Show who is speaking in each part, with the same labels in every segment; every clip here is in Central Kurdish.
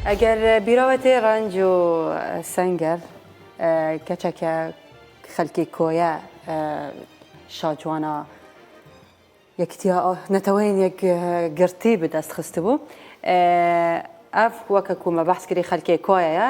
Speaker 1: ئەگەر بیرەوەتێ ڕەنج و سەنگەر کەچەکە خەلکی کۆیە شاجوانە یەکتیا نەتەوەین یەک گرتی بەدەست خست بوو ئەف وەکە کومە بەحسکری خەلکێ کۆیەیە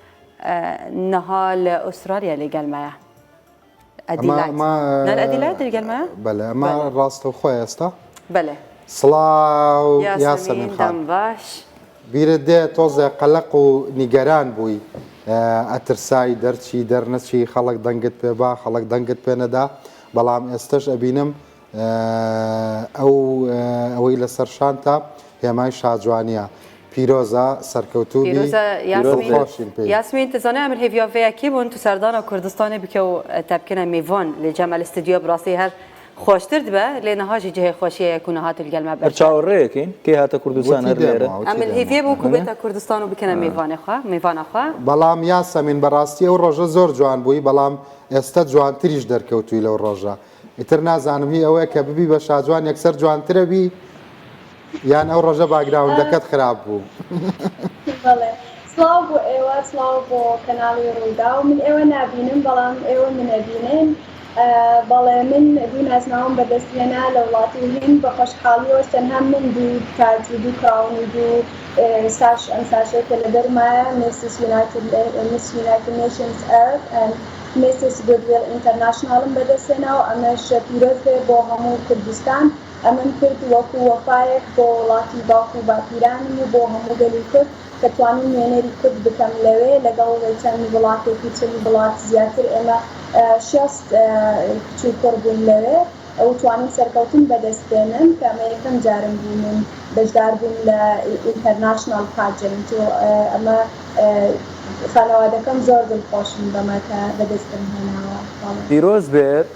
Speaker 1: نها لە ئوسترالیا لە گەلمەیە ئەدیلایتگەلمەمە ڕاستە
Speaker 2: خۆ ئێستا بەێ
Speaker 1: سڵاو
Speaker 2: یاسەمین خان باش
Speaker 1: بیرت دێ
Speaker 2: تۆزێ قەلق و نیگەران بووی ئەترسایی دەرچی دەرنەچی خەڵک دەنگت پێ با خەڵک دەنگت پێ نەدا بەڵام ئێستش ئەبینم ئەو ئەوەی لەسەر شانتە هێمای شاجوانیە پیرۆزە سەرکەوتوو بی پیرۆزە یاسمین دڵخۆشین
Speaker 1: پێی یاسمین تو زانای ئەمن هێڤیا ڤەیا کی بون تو سەردانە کوردستانی بکە و تا بکەنە میڤان لە جەمە لە ستدیۆ بڕاستی هەر خۆشتر دبە لێ نها ژی جهێ خۆشیەیە کو نهاتل گەل مە هەر بەرچاو چاوەڕێ یەکەین کەی هاتە
Speaker 3: کوردستان وتی هەر دێم لێرە وا وتی ئەمن دێم وا هێڤیە بو کو
Speaker 1: ئەمنە بێتە کوردستان و بکەنە میڤانێ خوا میڤانا خوا بەڵام یاسەمین
Speaker 2: بەڕاستی ئەو ڕۆژە زۆر جوان بووی بەڵام ئێستە جوانتریش دەرکەوتووی لەو ڕۆژە. ئیتر نازانم هی ئەوەیە کە ببی بە شاجوان یەکسەر جوانترە بی یان ئەو ڕۆژە باگراوندەکەت خراپ بوو.
Speaker 4: بەڵێ سڵاو بۆ ئێوە سڵاو بۆ کەناڵی ڕووداو من ئێوە نابینم بەڵام ئێوە منەبینن بەڵێ من دوو نازناوم بەدەست هێنا لە وڵاتی هند بە خۆشحاڵیەوەش تەنها من دوو تاج و دوو کراون و دوو ساش ئەم ساشەی کە لەبەرمایە مێسی یونایتد مس یونایتد نەیشنز ئەرت میسس گودویڵ ئینتەرناشناڵم بەدەستهێنا و ئەمەش پیرۆز بێ بۆ هەموو کوردستان، ئەمەم کرد وەکو وەفایەک بۆ وڵاتی باوک و باپیرانم و بۆ هەموو گەلی کورد کە توانیم نوێنەری کورد بکەم لەوێ لەگەڵ چەند وڵاتێکی چل وڵات زیاتر ئێمە شێست کچ و کوڕ بووین لەوێ. و توانیم سەرکەوتن بەدەست بێنم کە ئەمە یەکەم جارم بوو من بەشدار بووم لە ئینتەرناشناڵ پاجنت و ئەمە خانەوادەکەم زۆر دڵخۆشن بەمە کە بەدەستم
Speaker 3: هێناوە. پیرۆز بێت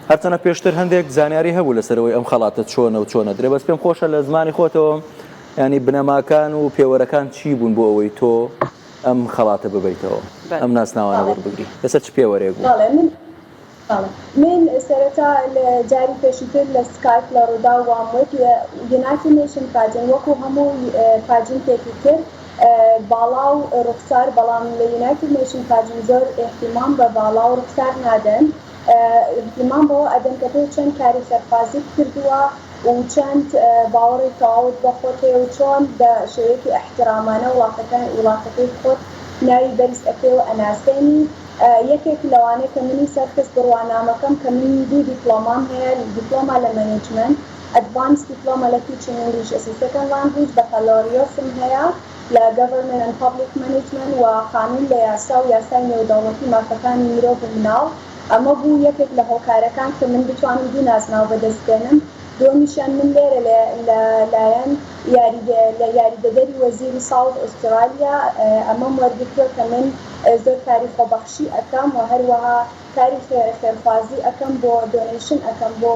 Speaker 3: هەر چەنە پێشتر هەندێک زانیاری هەبوو لەسەر ئەوەی ئەم خەڵاتە چۆنە و چۆن ئەدرێ بەس پێم خۆشە لە زمانی خۆتەوە یانی بنەماکان و پێوەرەکان چی بوون بۆ ئەوەی تۆ ئەم خەڵاتە ببەیتەوە ئەم ناسناوانە وەربگری لەسەر چ پێوەرێک بوو؟
Speaker 4: من سەرەتا لە جاری پێشوتر لە سکایپ لە ڕوداو وام وت یونایتد نەیشن پاجن وەکو هەموو پاجنتێکی تر باڵا و ڕوخسار بەڵام لە یونایتد نەیشن پاجن زۆر ئیهتیمام بە باڵا و ڕوخسار نادەن ئیهتیمام بەوە ئەدەن کە تۆ چەند کاری سەرفازیت کردوە و چەند باوەڕی تەواوت بە خۆت هەیە و چۆن بە شێوەیەکی ئیحترامانە وڵاتەکەی خۆت ناوی بەرز ئەکەی و ئەناسێنی. یەکێک لەوانەی کە منی سەرخست بڕوانامەکەم کە من دوو دیپڵۆمام هەیە دیپڵۆما لە مەنیجمەنت ئەدڤانس دیپڵۆما لە تیچینگ ئینگلیش ئەس ە سێکەند لانگویج بەکالۆریۆسم هەیە لە گەڤەرمێنت ئەند پابلیک مەنیجمەنت وە خانوون لە یاسا و یاسای نێودەوڵەتی مافەکانی مرۆڤ و مناڵ ئەمە بوو یەکێک لە هۆکارەکان کە من بتوانم دوو نازناو بەدەست بێنم دووەمیشیان من لێرە لە لە لایەن یاریدە لە یاریدەدەری وەزیری ساوت ئوسترالیا ئەمەم وەرگرتووە کە من زۆر کاری خۆبەخشی ئەکەم وە هەروەها کاری خێرە خێرخوازی ئەکەم بۆ دۆنەیشن ئەکەم بۆ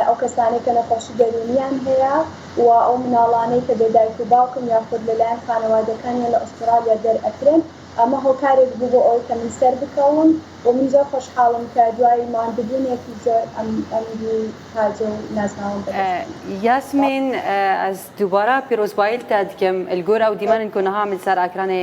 Speaker 4: ئەو کەسانەی کە نەخۆشی دەروونیان هەیە و ئەو مناڵانەی کە بێ دایک و باوکن یاخود لەلایەن خانەوادەکانیان لە ئوسترالیا دەر ئەکرێن ئەمە هۆکارێک بوو بۆ ئەوەی کە من سەر بکەوم و من زۆر خۆشحاڵم کە دوای ماندبوونێکی زۆر ئەم ئەمیری تاجە و نازناوەم بە دەست هێنا. یاسمین
Speaker 1: ئەز دوبارە پیرۆزباییلتە دکەم لگۆر ئەو دیمەنن کۆ نەهامن سەر ئاکرانێ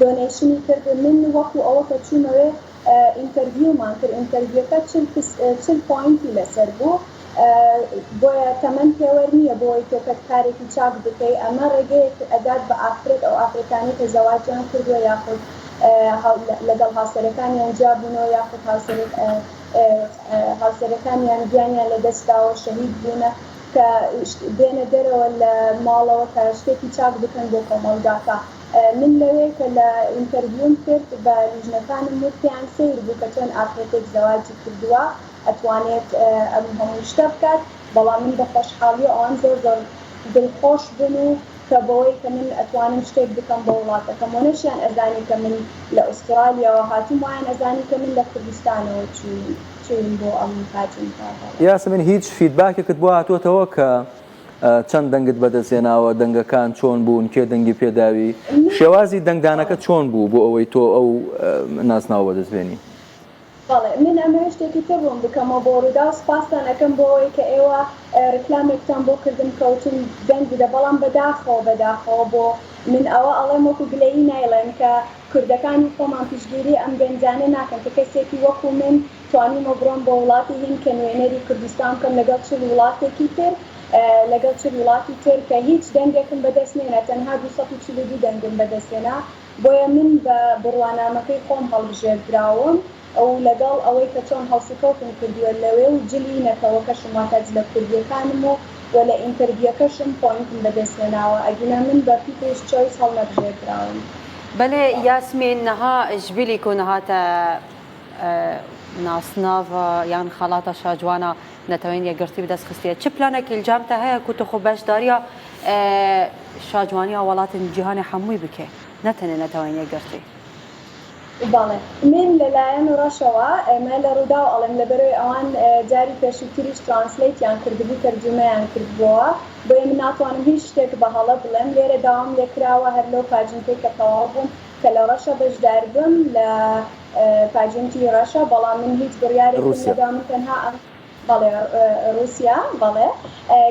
Speaker 4: دۆنەیشنی کرد من وەکو ئەوە کە چومەوێ ئینتەرڤیومان کرد ئینتەرڤیوەکە چل کس چل پۆینتی لەسەر بوو بۆیە تەمەن پێوەر نیە بۆ وەی تۆکەت کارێکی چاک بکەی ئەمە ڕێگەیەک ئەدات بە ئافرەت ئەو ئافرەتانەی کە زەواجیان کردوە یاخود لەگەڵ هاوسەرەکانیان جیا بونەوە یاخود هاوسەرەکانیان گیانیان لە دەست داوە شەهید بونە کە بێنە دەرەوە لە ماڵەوە کە شتێکی چاک بکەن بۆ کۆمەڵگاکە. من لەوێ کە لە ئینتەرڤیوم کرد بە لیژنەکانم وتیان سەیر بوو کە چۆن ئافرەتێک زەواجی کردووە ئەتوانێت ئەم هەموو شتە بکات بەڵام من بە خۆشحاڵی و ئەوان زۆر زۆر دڵخۆش بوون و کە بەوەی کە من ئەتوانم شتێک بکەم بۆ وڵاتەکەم و نەشیان ئەزانی کە من لە ئوسترالیاوە هاتووم وایان ئەزانی کە من لە کوردستانەوە چووین بۆ ئەم کاجنکاڤە. یاسمین هیچ
Speaker 3: فیدباکێکت بۆ هاتۆتەوە کە چەند دەنگت بەدەستهێناوە دەنگەکان چۆن بوون کێ دەنگی پێداوی شێوازی دەنگدانەکە چۆن بوو بۆ ئەوەی تۆ ئەو ناسناوە بەدەستبێنی بەڵێ
Speaker 4: من ئەمەوێ شتێکی تر ڕوون بکەمەوە بۆ ڕوودا و سپاستان ئەەکەم بۆ ئەوەی کە ئێوە ڕیکلامێکتان بۆ کردم کەوتم دەنگ بدە بەڵام بەداخەوە بەداخەوە بۆ من ئەوە ئەڵێم وەکو گلەیی نایڵێم کە کوردەکانی خۆمان پشگیری ئەم گەنجانە ناکەن کە کەسێکی وەکو من توانیمە بڕۆم بۆ وڵاتی هیند کە نوێنەری کوردستان بکەم لەگەڵ چل وڵاتێکی تر لەگەڵ چل وڵاتی تر کە هیچ دەنگێکم بەدەست نێنا تەنها دوو سەد و چل و دوو دەنگم بەدەست هێنا بۆیە من بە بڕوانامەکەی خۆم هەڵبژێردراوم و لەگەڵ ئەوەی کە چۆن هەڵسوکەوتم کردووە لەوێ و جلی نەتەوەکەشم واتە جلە کوردیەکانم و وە لە ئینتەرڤیەکەشم پۆینتم بەدەست هێناوە ئەگینا من بە پیپلز چۆیس هەڵنەبژێردراوم. بەلێ
Speaker 1: یاسمین نها ژبیلی کونهاتە. ناسناوە یان خەڵاتە شاجوانە نەتەوەین یەکگرتی بەدەست خستیە چ پلانێکی الجامتە هەیە کو تخۆ بەشداریە شاجوانیە وڵاتن جیهانی حەمووی بکێ نەتەنێ نەتەوەین یەکگرتی.
Speaker 4: بەڵێ من لەلایەن ڕەشەوە ئێمە لە ڕووداو ئەڵێم لەبەرەوەی ئەوان جاری پێشووتریش ترانسلەیتیان کردبوو تەرجومەیان کردبۆوە بۆیە من ناتوانم هیچ شتێک بە هەڵە بڵێم لێرە داوام لێکراوە هەر لەو پاجنکەی کە تەواو بووم کە لە ڕەشە بەشداربم لە پاجنتی ڕەشە بەڵام من هیچ بڕیارێکم نەدا من تەنها ئەم بەڵێ ڕوسیا بەڵێ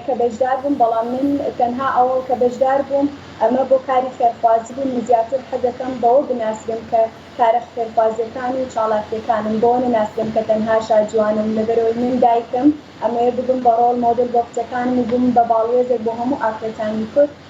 Speaker 4: کە بەشدار بووم بەڵام من تەنها ئەوە کە بەشدار بووم ئەمە بۆ کاری خێرخوازی بوو من زیاتر حەزەکەم بەوە بناسرێم کە کارە خێرخوازیەکان و چاڵاکیەکانم بۆ نەناسرێم کە تەنها شاجوانم لەبەرەوەی من دایکم ئەمەوێ ببم بە ڕۆڵ مۆدل بۆ کچەکانم و بم بە باڵوێزێک بۆ هەموو ئافرەتانی کورد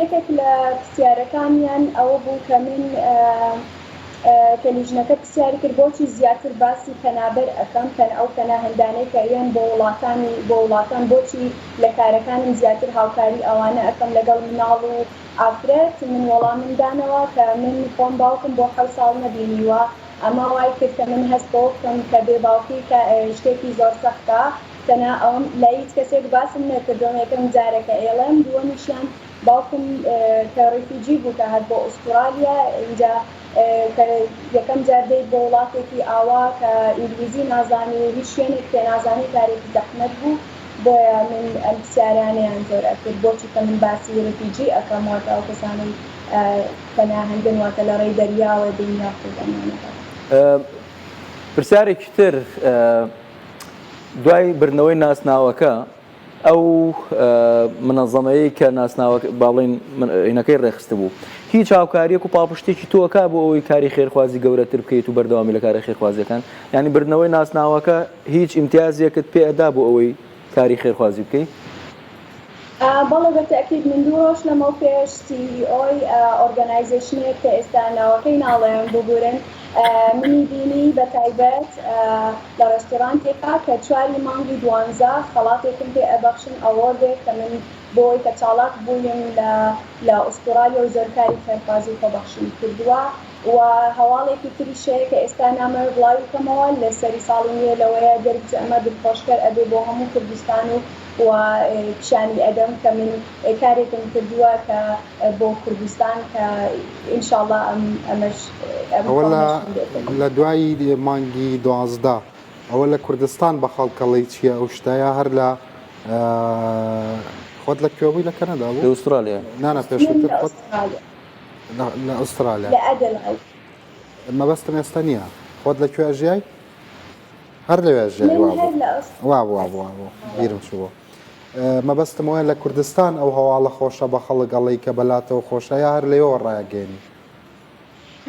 Speaker 4: یەکێک لە پرسیارەکانیان ئەوە بوو کە من کە لیژنەکە پرسیاری کرد بۆچی زیاتر باسی پەنابەر ئەکەم، ئەو پەناهەندانەی کە یەن بۆ وڵاتانی بۆ وڵاتان بۆچی لە کارەکانم زیاتر هاوکاری ئەوانە ئەکەم لەگەڵ مناڵ و ئافرەت، من وەڵامم دانەوە کە من خۆم باوکم بۆ حەوت ساڵ نەبینیوە ئەمە وای کرد کە من هەست بەوە بکەم کە بێ باوکی کە شتێکی زۆر سەختە. دەنا ئەوم لای هیچ کەسێک باسم نەکردوە یەکەم جارە کە ئەیڵێم دووەمیشیان باوکم کە ڕیفیجی بوو کە هات بۆ ئوستوڕالیا ئینجا کە یەکەم جار دێیت بۆ وڵاتێکی ئاوا کە ئینگلیزی نازانی و هیچ شوێنێک پێ نازانی کارێکی زەحمەت بوو بۆیە من ئەم پسیارانەیان زۆر ئەکرد بۆ چوکە من باسی ڕیفیجی ئەکەم واتە ئەو کەسانەی پەناهەندن واتە لە ڕێی دەریاوە دێن یاخود ئەمانە بەس. پرسیارێکی
Speaker 3: تر. دوای بردنەوەی ناسناوەکە ئەو منەزەمەیە کە ناسناوە باڵین ئینەکەی ڕێخستبوو هیچ هاوکاریەک و پاڵپشتێکی تۆکە بۆ ئەوەی کاری خێرخوازی گەورەتر بکەیت و بەردەوامی لە کاری خێرخوازیەکان ینی بردنەوەی ناسناوەکە هیچ ئیمتیازیەکت پێدا بۆ ئەوەی کاری خێرخوازی بکەیت
Speaker 4: بەڵێ بە تەئکید من دوو ڕۆژ لەمەو پێش سی ئی ئۆی ئۆرگەنایزەیشنێک کە ئێستا ناوەکەی ناڵێم ببورن منی بینی بە تایبەت لە ڕێستۆرانتێکا کە چواری مانگی دوانزە خەڵاتێکم پێ ئەبەخشن ئەوۆردێک کە من بۆ وەی کە چاڵاک بوویم لە لە ئوستوڕالیا و زۆر کاری خێرخوازی و خۆبەخشیم کردووە و هەواڵێکی تریش هەیە کە ئێستا نامەوێ بڵاوی کەمەوە لە سەری ساڵی نوێ لەوەیە دەربچێ ئەمە دڵخۆشکەر ئەبێ بۆ هەموو کوردستان و و پیشانی ئەدەم کە من کارێکم کردووە کە بۆ کوردستان کە ان شاء اللە ئەم ئەمەش ئەم ئەوە لە فۆرمەشم بێ بە
Speaker 2: لە دوای مانگی دوازدە ئەوە لە کوردستان بە خەڵک ئەڵێی چیە ئەو شتە یا هەر لە ئە خۆت لە کوێ بووی لە کەنەدا بوو لە ئوسترالیا نا
Speaker 3: نا من پێشووتر لە
Speaker 2: خۆت ئوسترالیا لە ئوسترالیا لە ئەدلعید. مەبەستم ئێستا نییە
Speaker 4: خۆت
Speaker 2: لە کوێ ژیای هەر لەوێ ژیای
Speaker 4: بیرم
Speaker 2: شووە مەبەستم وایە لە کوردستان ئەو هەواڵە خۆشە بە خەڵک ئەڵی کە بەلاتەوە خۆشە یا هەر لەوە ڕایگەێنی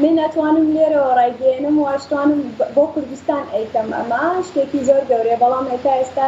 Speaker 2: من ناتوانم لێرەوە ڕایگەێنم
Speaker 4: واشتوانم بۆ کوردستان ئەیکەم ئەمە شتێکی زۆر گەورەیە بەڵام هێتا ئێستا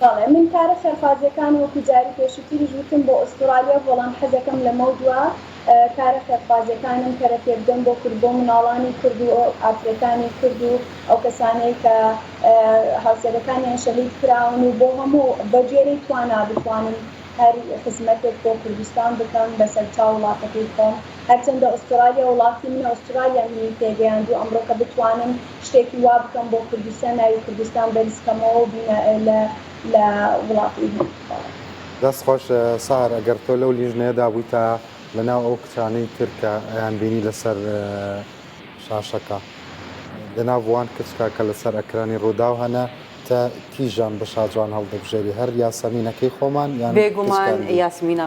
Speaker 1: بەڵێ من
Speaker 4: کارە خێرخوازیەکان وەکو جاری پێشوتریش وتم بۆ ئوستوڕالیا بەڵام حەزەکەم لەمەو دوا کارە خێرخوازیەکانم کەرە پێبدەم بۆ کورد بۆ مناڵانی کورد و ئافرەتانی کورد و ئەوکەسانەی کە هاوسەرەکانیان شەهید کراون و بۆ هەموو بەگوێرەی توانا بتوانم هەر خزمەتێک بۆ کوردستان بکەم بەسەرچاو وڵاتەکەی خۆم هەرچەندە ئوستوڕالیا وڵاتی منە ئوستوڕالیا منی پێگەیاندو ئەمڕۆکە بتوانم شتێکی وا بکەم بۆ کوردستان ناوی کوردستان بەرز کەمەوەو بینە لە لە وڵاتی هند
Speaker 2: بەڵێ. دەست خۆش سارە گەر تۆ لەو لیژنەیە دابویتە لە ناو ئەو کچانەی تر کە ئەیان بینی لە سەر شاشەکە دە ناو بوان کچکە کە لە سەر ئەکرانی ڕوداو هەنە تە تیژان بە شاجوان هەڵدەبژێری هەر یاسەمینەکەی خۆمان یان بێگومان کچکاندی.
Speaker 1: یاسمینە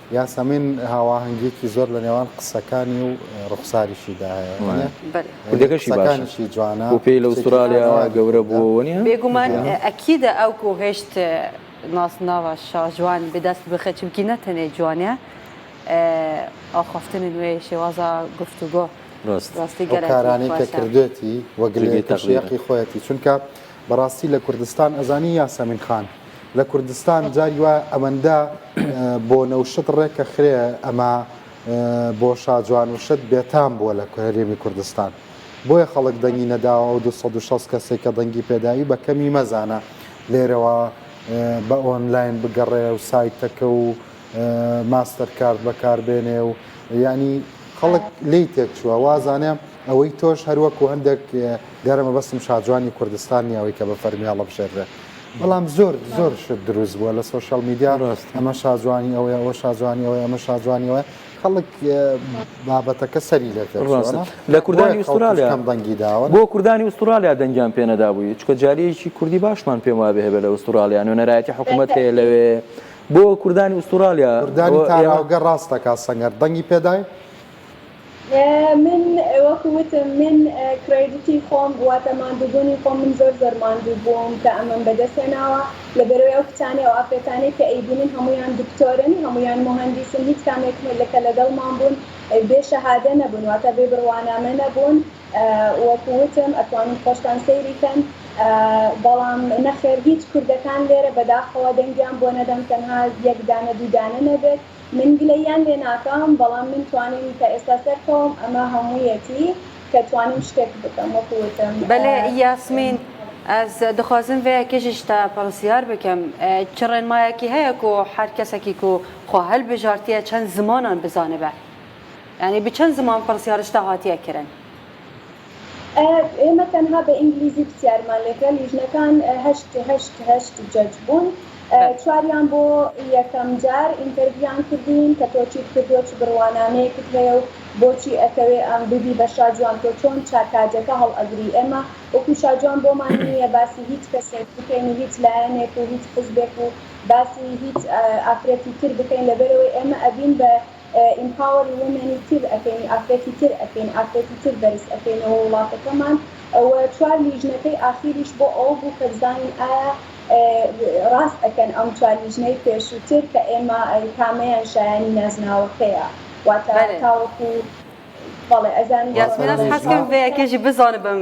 Speaker 3: یاسەمین
Speaker 2: هاواهەنگیەکی زۆر لە نێوان قسەکانی و ڕوخساریشیدا هەیە کودەکەشی
Speaker 3: باشی جوانە
Speaker 2: و پێی لە ئوسترالیا
Speaker 3: گەورە بووەوە نیە بێگومان ئەکیدە
Speaker 1: ئەو کۆ هێشت ناسناوە شاژوان بدەست بخە چمکی نەتەنێ جوانە ئاخفتن نوێ شێوازە گفتوگۆ ڕاستی گەرانانی کە
Speaker 2: کردێتی وەگلێتەشیقی خۆەتی چونکە بەڕاستی لە کوردستان ئەزانی یاسەمین خان لە کوردستان جاری وایە ئەوەندە بۆنە و شت ڕێکە خرێ ئەمە بۆ شاجوان و شت بێتام بووە لە هەرێمی کوردستان بۆیە خەڵک دەنگی نەداوە ئەو 260 کەسێک کە دەنگی پێداوی بە کەمی مەزانە لێرەوە بە ئۆنلاین بگەڕێ و سایتەکە و ماستەر کارت بەکاربێنێ و ینی خەڵک لی تێک چووە وازانێ ئەوەی تۆش هەر وەکو هەندێک دیارە مەبەستم شاجوانی کوردستان نیە ئەوەی کە بە فەرمی هەڵەبژێردرێت بەڵام زۆر زۆر شت دروست بووە لە سۆشیال میدیا ڕاست ئەمە شاجوانی ئەوەی ئەوە شاجوانی ئەوەی ئەمە شاجوانی ئەوە خەڵک بابەتەکە سەری لێت ڕاستە لە کوردانی
Speaker 3: ئوسترالیا کەم دەنگی داوە بۆ
Speaker 2: کوردانی ئوسترالیا
Speaker 3: دەنگیان پێنەدا بووی چکە جالیەکی کوردی باشمان پێم وابێ هەبێ لە ئوسترالیا نوێنەرایەتی حکوومەت هەیە لەوێ بۆ کوردانی ئوسترالیا کوردانی تاراوگە
Speaker 2: ڕاستەکە سەنگەر دەنگی پێدای
Speaker 4: من وەکو وتم من کرەیدتی خۆم واتە ماندووبونی خۆم من زۆر زۆر ماندوو بووم کە ئەمەم بەدەست هێناوە لەبەرەوەی ئەو کچانەی ئەو ئافرەتانەی کە ئەیبینن هەموویان دکتۆرن هەموویان موهەندیسن هیچ کامێک کە لەگەڵمان بوون بێ شەهادە نەبوون واتە بێ بڕوانامە نەبوون وەکو وتم ئەتوانن خۆشتان سەیری کەن بەڵام نەخێر هیچ کوردەکان لێرە بەداخەوە دەنگیان بۆ نەدەم تەنها یەک دانە دوو دانە نەبێت. من گلەییان لێ ناکەم بەڵام من توانیم تا ئێستا سەرکەوم ئەمە هەموویەتی کە توانیم شتێک بکەم
Speaker 1: وەکو وتم بەلێ یاسمین ئەز دخوازم ڤەیە کێشیش تا پەرسیار بکەم چ ڕێنمایەکی هەیە کو حەر کەسەکی کو خوا هەل بژارتیە چەن زمانان بزانبە یانی بچەن زمان پەرسیارش تا هاتیە کرن.
Speaker 4: ئێمە تەنها بە ئینگلیزی پرسیارمان لێ کرا لیژنەکان هەشت هەشت هەشت جەج بوون بەس چواریان بۆ یەکەم جار ئینتەرویان کردین کە تۆ چیت کردووە چ بڕوانامەیەکت هەیە و بۆچی ئەتەوێ ئەم ببی بە شاجوان تۆ چۆن چا کاجەکە هەڵئەگری ئێمە وەکو شاجوان بۆمان نییە باسی هیچ کەسێک بکەین و هیچ لایەنێک و هیچ حزبێک و باسی هیچ ئافرەتی تر بکەین لەبەرئەوەی ئێمە ئەبین بە ئیمپاوەری ومێنی تر ئەکەین ئافرەتی تر ئەکەین ئافرەتی تر بەرز ئەکەینەوە وڵاتەکەمان و چوار لیژنەکەی ئاخیریش بۆ ئەوە بوو کە بزانین ئایا ڕاست ئەکەن ئەم چوار لیژنەی پێشووتر کە ئێمە کامەیان شایانی نازناوەکەیە واتە تاوەکو بەڵێ ئەزانم یاسمینە حەزکرد
Speaker 1: بەیەکێژی بزانبم.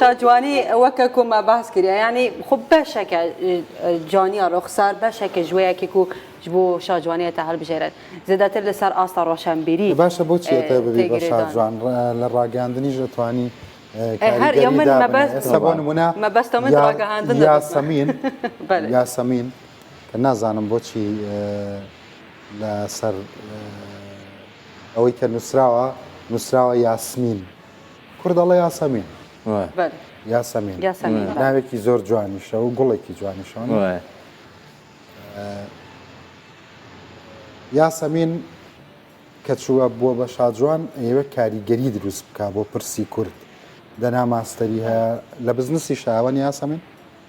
Speaker 1: شاجوانی ئەوەکە کۆما باس کرد ینی خۆ بەشەکە جوانیا ڕۆخسار بەشەکە ژوەیەکێک و ji بۆ شاجوانە تا هەڵبژێرێت زیاتر لەسەر ئاستا ڕۆشنبیری باشە بۆچی
Speaker 2: شاجوان لە ڕاگەاندنیش ئەتوانی یاسەمین کە نازانم بۆچی لە سەر ئەوەی کە نووسراوە نووسراوە یاسمین کورد دەڵێ یاسەمین یاسەمین ناوێکی زۆر جوانیشە و گوڵێکی جوانیشان یاسەمین کە چووە بووە بە شاجوان ئێوە کاریگەری دروست بک بۆ پرسی کورد دەنا ماستەری هەیە لە بزنسی شاوەنی یاسەمین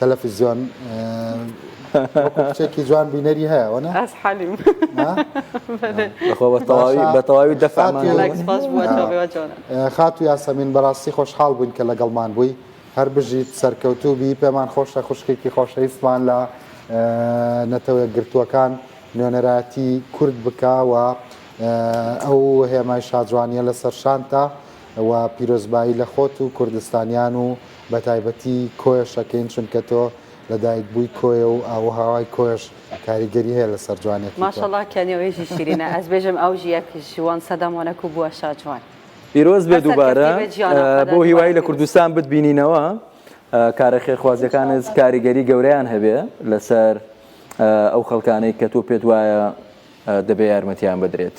Speaker 2: تەلەفزیۆن وەکو کچێکی جوان بینەری هەیە وەنا ئەس حەلیم
Speaker 3: بەتەواوی دەفاخاتو
Speaker 2: یاسەمین بەڕاستی خۆشحاڵ بووین کە لەگەڵمان بووی هەر بژیت سەرکەوتوو بی پێمان خۆشە خوشکێکی خۆشەویستمان لە نەتەوە گرتووەکان نوێنەراتی کورد بکەوە ئەو هێمای شاجوانیە لەسەر شانتە و پیرۆزبایی لە خۆت و کوردستانیان و بەتایبەتی کۆیە شەکین چونکە تۆ لە دایک بووی کۆیە و ئاووهاوای کۆیەش کاریگەری هەیە لەسەر جوانیەتی تۆ. ماشاءاللە کە نێوێژی
Speaker 1: شیرینە ئەز بێژم ئەو ژیەک ژوان سەدە مۆنەکو بوە شا جوان. پیرۆز بێ
Speaker 3: دووبارە بۆ هیوای لە کوردستان بت بینینەوە کارە خێرخوازیەکانت کاریگەری گەورەیان هەبێ لەسەر ئەو خەڵکانەی کە تۆ پێت وایە دەبێ یارمەتیان بدرێت.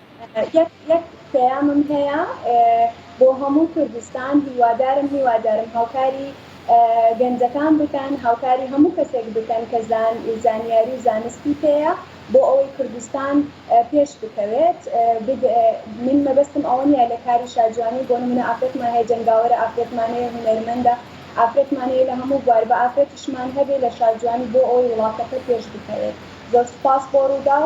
Speaker 4: یەک یەک پەیامم هەیە بۆ هەموو کوردستان هیوادارم هیوادارم هاوکاری گەنجەکان بکەن هاوکاری هەموو کەسێک بکەن کە زان زانیاری و زانستی پێیە بۆ ئەوەی کوردستان پێش بکەوێت بگ من مەبەستم ئەوە نیە لە کاری شاجوانی بۆ نمونە ئافرەتمان هەیە جەنگاوەرە ئافرەتمان هەیە هونەرمەندە ئافرەتمان هەیە لە هەموو بوار بە ئافرەتیشمان هەبێ لە شاجوانی بۆ ئەوەی وڵاتەکە پێش بکەوێت زۆر سوپاس بۆ رووداو.